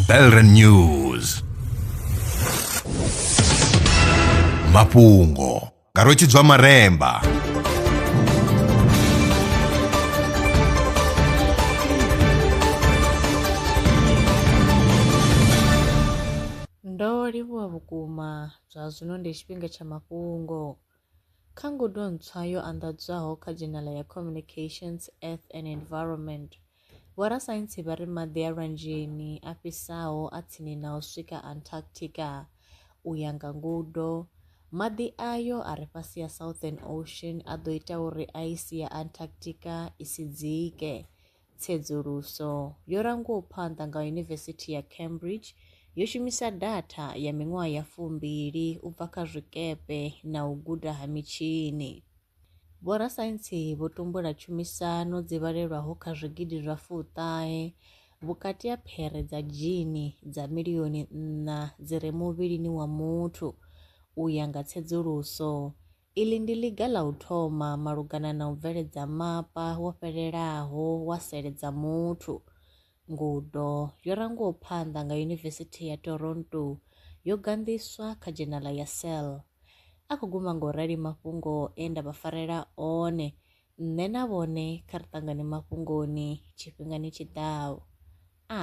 Belren News mafhungo nga rwetshidzwa maremba Ndo livhuwa vhukuma zwa zwino ndi tshifhinga tsha mafhungo. Kha ngudo ntswa yo anḓadzwaho kha dzhenala ya Communications, Earth and Environment, vhorasaintsi vha ri maḓi a lwanzheni a fhisaho a tsini na u swika Antarctica. U ya nga ngudo, maḓi ayo a re fhasi ha Southern Ocean a ḓo ita uri aisi ya Antarctica i si dzike. Tsedzuluso yo rangwaho phanḓa nga Yunivesithi ya Cambridge yo shumisa datha ya miṅwaha ya fumbili u bva kha zwikepe na u guda ha mitshini. Vhorasaintsi vho tumbula tshumisano dzi vhalelwaho kha zwigidi zwa fuṱahe vhukati ha phere dza dzhini dza milioni nṋa dzi re muvhilini wa muthu, u ya nga tsedzuluso Iḽi ndi ḽiga ḽa u thoma malugana na u bveledza mapa wo fhelelaho wa sele dza muthu. Ngudo yo rangwaho phanḓa nga Yunivesithi ya Toronto yo ganḓiswa kha dzhenala ya Cell. A khou guma nga u rali mafhungo e nda vha farela one, nṋe na vhone kha ri ṱangane mafhungoni tshifhingani tshi ḓaho. A.